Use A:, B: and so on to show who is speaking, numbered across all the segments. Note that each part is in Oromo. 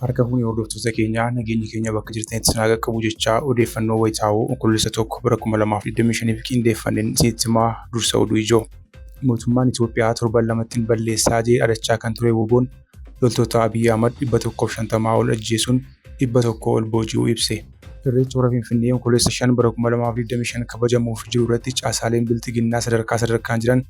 A: Harka fuunee hordoftoota keenyaa nageenyi keenya bakka jirtanitti isin haa qaqqabu jechaa odeeffannoo wayitaawoo Onkoloolessa tokko bara 2025 fi qindeeffanneen isinitti himaa dursa oduu ijoo. Mootummaan Itoophiyaa torban lamattiin balleessaa jee dhadachaa kan ture woboon loltoota Abiy Ahmad 150 ol ajjeesuun 100 ol booji'uu ibse. Irreecha Hora Finfinnee Onkoloolessa 5 bara 2025 kabajamuuf jiru irratti caasaaleen Bilxiginnaa sadarkaa sadarkaan jiran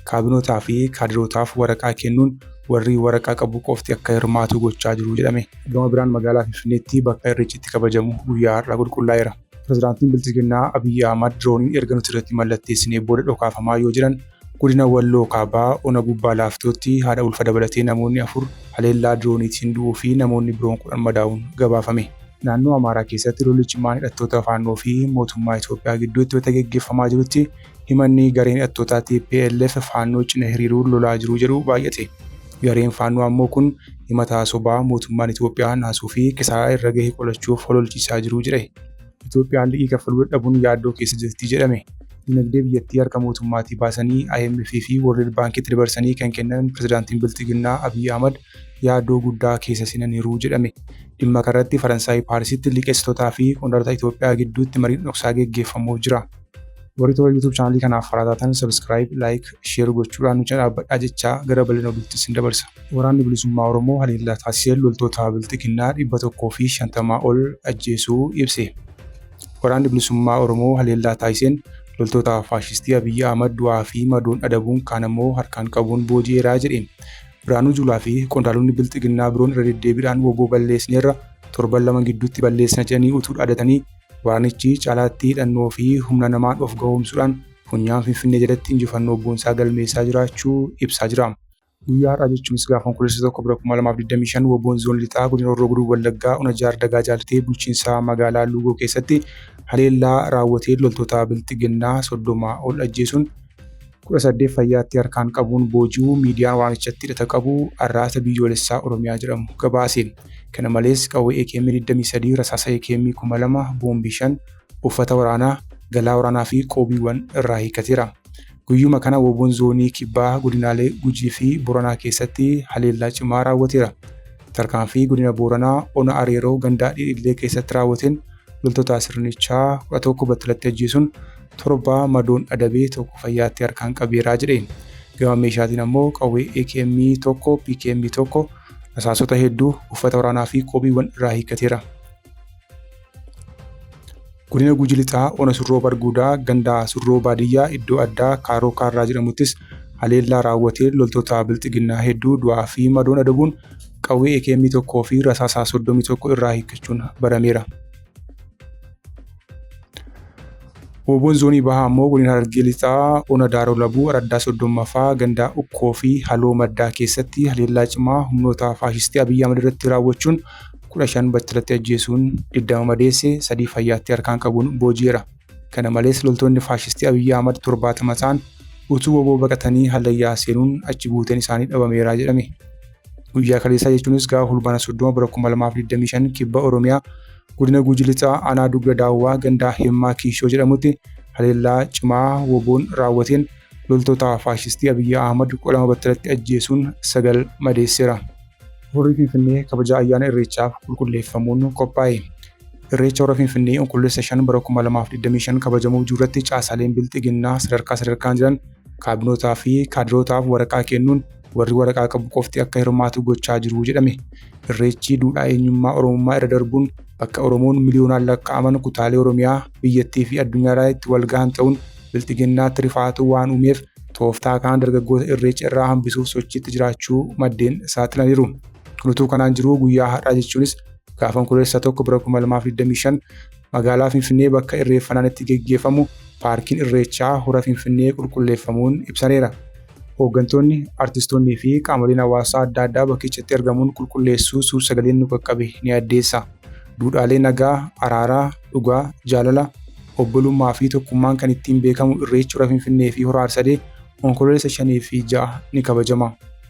A: kaabinootaa fi kaadirootaaf waraqaa kennuun warri waraqaa qabu qofti akka hirmaatu gochaa jiru jedhame. Gama biraan magaalaa Finfinneetti bakka Irreechi itti kabajamu guyyaa har'aa qulqullaa'eera. Pirezidaantiin Bilxiginnaa Abiy Ahmad dirooniin erga nuti irratti mallatteessinee booda dhokaafamaa yoo jiran Godina Walloo Kaabaa Ona Gubbaa Laaftootti haadha ulfa dabalatee namoonni afur haleellaa dirooniitiin du'uu fi namoonni biroon kudhan madaa'uun gabaafame. Naannoo Amaaraa keessatti lolli cimaan hidhattoota Faannoo fi mootummaa Itoophiyaa gidduutti wayita geggeeffamaa jirutti himanni gareen hidhattootaa tplf Faannoo cina hiriiruun lolaa jiru jedhu baay'ate. Gareen Faannoo ammoo kun himata sobaa mootummaan Itoophiyaa naasuu fi kisaaraa irra gahe qolachuuf hololchiisaa jiru jedhe. Itoophiyaan liqii kaffaluu dadhabuun yaaddoo keessa jirti jedhame. Dinagdee biyyattii harka mootummaatii baasanii IMF fi World Baankitti dabarsanii kan kennan pirezidaantiin Bilxiginnaa Abiy Ahmad yaaddoo guddaa keessa seenaniiru jedhame. Dhimma kanarratti Faransaay Paarisitti liqeessitootaa fi qondaalota Itoophiyaa gidduutti mariin dhoksaa geggeeffamuuf jira. Warri toora YouTube chaanalii kanaaf haaraa taatan subscribe, like, share gochuudhaan nu cina dhaabbadhaa jechaa gara bal'ina oduutti isin dabarsa. Waraanni Bilisummaa Oromoo haleellaa taasiseen loltoota Bilxiginnaa 150 ol ajjeesuu ibse. Waraanni Bilisummaa Oromoo haleellaa taasiseen loltoota faashistii Abiyyi Ahmad du'aa fi madoon adabuun kaan ammoo harkaan qabuun booji'eeraa jedhe. Biraanuu Juulaa fi qondaalonni Bilxiginnaa biroon irra deddeebiidhaan woboo balleessineerra torban lama gidduutti balleessina jedhanii utuu dhaadatanii Waraanichi caalaatti hidhannoo fi humna namaan of gahoomsuudhaan funyaan Finfinnee jalatti injifannoo boonsaa galmeessaa jiraachuu ibsaa jira. Guyyaa har'aa jechuunis gaafa Onkoloolessa 1 bara 2025 WBOn Zoon Lixaa Godina Horroo Guduruu Wallaggaa Ona Jaar Dagaa Jaalitee bulchiinsa magaalaa Luugoo keessatti haleellaa raawwateen loltoota Bilxiginnaa 30 ol ajjeesuun 18 fayyaatti harkaan qabuun booji'uu miidiyaan waamichatti hidhata qabu Arraata Biyyoolessaa Oromiyaa jedhamu gabaase. Kana malees qawwee AKM 23, rasaasa AKM 2000, boombii 5, uffata waraanaa, galaa waraanaa fi qoobiiwwan irraa hiikkateera. Guyyuma kana WBOn Zoonii Kibbaa godinaalee Gujii fi Booranaa keessatti haleellaa cimaa raawwateera. Tarkaanfii godina Booranaa ona Areeroo gandaa Dhidhillee keessatti raawwateen loltoota sirnichaa 11 battalatti ajjeesuun 7 madoon adabee tokko fayyaatti harkaan qabeeraa jedheen. Gama meeshaatiin ammoo qawwee AKM 1, PKM 1, rasaasota hedduu, uffata waraanaa fi qoobiiwwan irraa hiikkateera. Godina Guji Lixaa Ona Surroo Barguudaa gandaa Surroo Baadiyyaa iddoo addaa Kaaroo Kaarraa jedhamuttis haleellaa raawwateen loltoota bilxiginnaa hedduu du'aa fi madoon adabuun qawwee AKM 1 fi rasaasaa 31 irraa hiikkachuun barameera. Wooboon zoonii bahaa ammoo godina Harargee Lixaa ona Daaroo Labuu araddaa soddommaffaa gandaa Ukkoo fi Haloo Maddaa keessatti haleellaa cimaa humnoota faashistii Abiyyi Ahmad irratti raawwachuun kudha shan battalatti ajjeesuun digdama madeesse sadii fayyaatti harkaan qabuun booji'eera. Kana malees loltoonni faashistii Abiyyi Ahmad torbaatama ta'an utuu woboo baqatanii hallayyaa seenuun achi buuteen isaanii dhabameera jedhame. Guyyaa kaleessaa jechuunis gaafa Fulbaana 30 bara 2025 kibba Oromiyaa godina Guji Lixaa aanaa Dugda Daawwaa gandaa Himmaa Kiishoo jedhamutti haleellaa cimaa woboon raawwateen loltoota faashistii Abiyyi Ahmad kudha lama battalatti ajjeesuun sagal madeesseera. Horri Finfinnee kabaja ayyaana Irreechaaf qulqulleeffamuun qophaa'e. Irreecha Hora Finfinnee Onkoloolessa 5 bara 2025 kabajamuuf jiruurratti caasaaleen Bilxiginnaa sadarkaa sadarkaan jiran kaabinootaa fi kaadirootaaf waraqaa kennuun warri waraqaa qabu qofti akka hirmaatu gochaa jiru jedhame. Irreechi duudhaa eenyummaa Oromummaa irra darbuun bakka Oromoon miliyoonaan lakkaa'aman kutaalee Oromiyaa, biyyattii fi addunyaarraa itti wal gahan ta'uun bilxiginnaatti rifaatuu waan uumeef tooftaa kanaan dargaggoota irreecha irraa hambisuuf sochiitti jiraachuu maddeen saaxilaniiru. Kun utuu kanaan jiruu guyyaa har'aa jechuunis gaafa Onkoloolessa 1 bara 2025 Magaalaa Finfinnee bakka irreeffannaan itti geggeeffamu paarkiin irreechaa hora Finfinnee qulqulleeffamuun ibsameera. Hooggantoonni, artistoonnii fi qaamoleen hawaasaa adda addaa bakkichatti argamuun qulqulleessuu suur-sagaleen nu qaqqabe ni addeessa. Duudhaalee nagaa, araaraa, dhugaa, jaalala, obbolummaa fi tokkummaan kan ittiin beekamu irreechi hora Finfinnee fi hora Arsadee Onkoloolessa 5 fi 6 ni kabajama.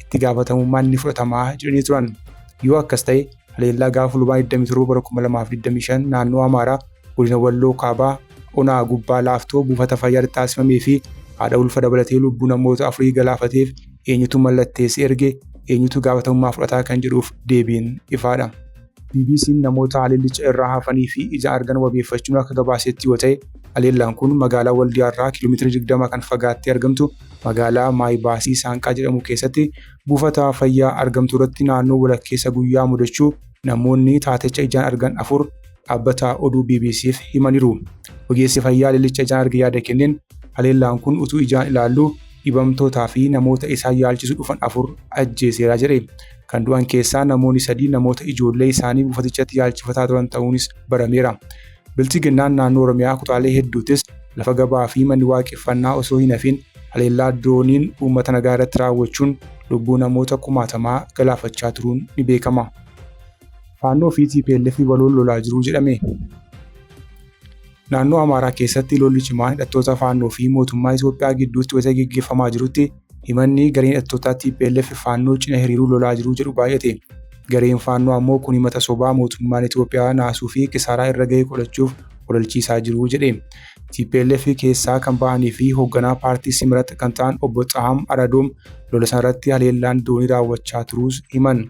A: itti gaafatamummaan ni fudhatama jedhanii turan. Yoo akkas ta'e haleellaa gaafa Fulbaana 27 bara 2025 naannoo Amaaraa godina Walloo Kaabaa onaa gubbaa laaftoo buufata fayyaatti taasifamee fi haadha ulfa dabalatee lubbuu namoota afurii galaafateef eenyutu mallatteessi erge eenyutu gaafatamummaa fudhataa kan jedhuuf deebiin ifaadha. BBC'n namoota haleellicha irraa hafanii fi ija argan wabeeffachuun akka gabaasetti yoo ta'e, haleellaan kun magaalaa Waldiyaa irraa kiiloomeetira 20 kan fagaattee argamtu magaalaa Maay Baasii Saanqaa jedhamu keessatti buufata fayyaa argamtu irratti naannoo walakkeessa guyyaa mudachuu namoonni taatecha ijaan argan afur dhaabbata oduu BBC'f himaniiru. Ogeessi fayyaa haleellicha ijaan arge yaada kenneen haleellaan kun utuu ijaan ilaallu dhibamtootaa fi namoota isaan yaalchisu dhufan afur ajjeeseera jedhe. Kan du'an keessaa namoonni sadii namoota ijoollee isaanii buufatichatti yaalchifataa turan ta'uunis barameera. Bilchiginnaan naannoo Oromiyaa kutaalee hedduuttis lafa gabaa fi manni waaqeffannaa osoo hin hafin haleellaa dirooniin uummata nagaa irratti raawwachuun lubbuu namoota kumaatamaa galaafachaa turuun ni beekama. Faannoo fi TPLF waloon lolaa jiru jedhame. Naannoo Amaaraa keessatti lolli cimaan hidhattoota Faannoo fi mootummaa Itoophiyaa gidduutti wayita geggeeffamaa jirutti himanni gareen hidhattootaa tplf Faannoo cina hiriiruu lolaa jiru jedhu baay'ate. Gareen Faannoo ammoo kun himata sobaa mootummaan Itoophiyaa naasuu fi kisaaraa irra gahe qolachuuf ololchiisaa jiru jedhe. Tplf keessaa kan bahanii fi hoogganaa paartii Simrat kan ta'an obbo Xahaam Aradoom lola sanarratti haleellaan doonii raawwachaa turuus himan.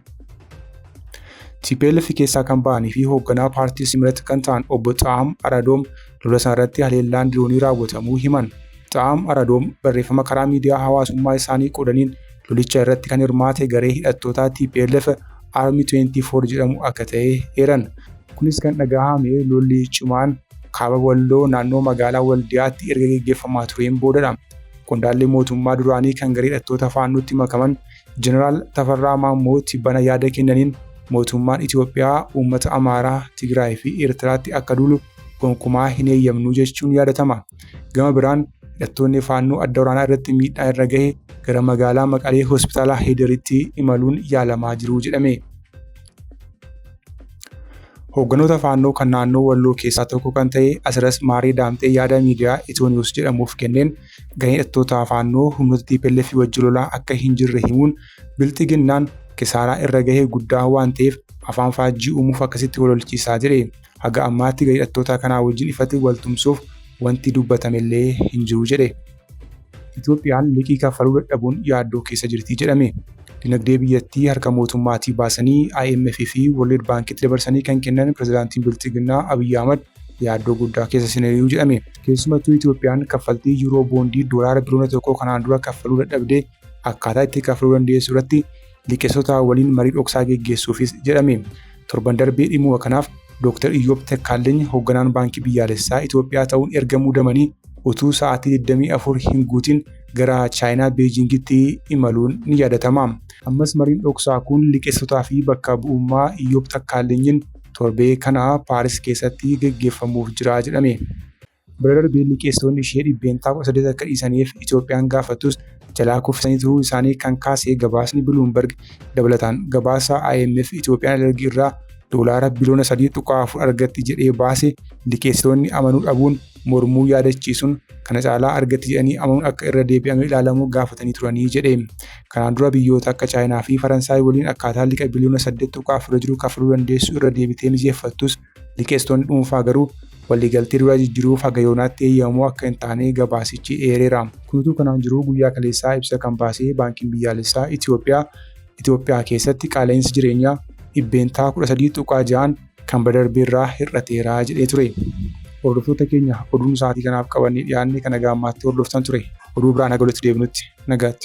A: TPLF keessaa kan ba'anii fi hoogganaa paartii Simrat kan ta'an obbo Xaa'am Aradoom lola isaa irratti haleellaan diroonii raawwatamuu himan. Xaa'am Aradoom barreeffama karaa miidiyaa hawaasummaa isaanii qoodaniin lolicha irratti kan hirmaate garee hidhattootaa TPLF Army 24 jedhamu akka ta'e eeran. Kunis kan dhagahame lolli cimaan kaaba Walloo naannoo magaalaa Waldiyaatti erga geggeeffamaa tureen boodadha. Qondaalli mootummaa duraanii kan garee hidhattoota Faannootti makaman Jeneraal Tafarraa Maammoo tibbana yaada kennaniin mootummaan Itoophiyaa uummata Amaaraa, Tigraay fi Eertiraatti akka duulu gonkumaa hin eeyyamnu jechuun yaadatama. Gama biraan hidhattoonni faannoo adda waraanaa irratti miidhaa irra gahe gara magaalaa Maqalee hospitaala Heederitti imaluun yaalamaa jiru jedhame. Hoogganoota faannoo kan naannoo Walloo keessaa tokko kan ta'e Asiras Maaree Daamxee yaada miidiyaa Itoo Niwus jedhamuuf kenneen gareen hidhattoota faannoo humnoota TPLF wajji lolaa akka hin jirre himuun bilxiginnaan kisaaraa irra gahee guddaa waan ta'eef afaan faajjii uumuuf akkasitti walolchiisaa jedhe. Haga ammaatti garee hidhattoota kanaa wajjin ifatti waltumsuuf wanti dubbatamellee hin jiru jedhe. Itoophiyaan liqii kaffaluu dadhabuun yaaddoo keessa jirti jedhame. Dinagdee biyyattii harka mootummaatii baasanii IMF fi World Baankitti dabarsanii kan kennan pirezidaantiin Bilxiginnaa Abiyyi Ahmad yaaddoo guddaa keessa seenaniiru jedhame. Keessumattuu Itoophiyaan kaffaltii Yuuroo Boondii doolaara biliyoona tokkoo kanaan dura kaffaluu dadhabde akkaataa itti kaffaluu dandeessu irratti liqeessitootaa waliin marii dhoksaa geggeessuufis jedhame. Torban darbe dhimmuma kanaaf Dooktar Iyyoob Takkaalleny hogganaan Baankii Biyyaalessaa Itoophiyaa ta'uun erga muudamanii utuu sa'aatii 24 hin guutin gara Chaayinaa Beejiingitti imaluun ni yaadatama. Ammas mariin dhoksaa kun liqeessitootaa fi bakka bu'ummaa Iyyoob Takkaallenyiin torbee kana Paaris keessatti geggeeffamuuf jira jedhame. Bira darbee liqeessitoonni ishee dhibbeentaa 18 akka dhiisaniif Itoophiyaan gaafattus jalaa kuffisanii turuu isaanii kan kaase gabaasni Biluumberg dabalataan gabaasa IMF Itoophiyaan alergii irraa doolaara biliyoona 3.4 argatti jedhee baase liqeessitoonni amanuu dhabuun mormuu yaadachiisuun kana caalaa argatti jedhanii amanuun akka irra deebi'amee ilaalamu gaafatanii turanii jedhe. Kanaan dura biyyoota akka Chaayinaa fi Faransaay waliin akkaataa liqa biliyoona 8.4 jiru kafaluu dandeessu irra deebitee mijeeffattus liqeessitoonni dhuunfaa garuu waliigaltee duraa jijjiruuf haga yoonaatti eeyyamamoo akka hin taane gabaasichi eereera. Kun utuu kanaan jiruu guyyaa kaleessaa ibsa kan baasee Baankiin Biyyaalessaa Itiyoophiyaa Itiyoophiyaa keessatti qaala'insi jireenyaa dhibbeentaa 13.6n kan bara darbee irraa hir'ateera jedhee ture. Hordoftoota keenya oduun sa'aatii kanaaf qabannee dhiyaanne kan nagaa ammaatti hordoftan ture. Oduu biraan haga walitti deebinutti nagaatti.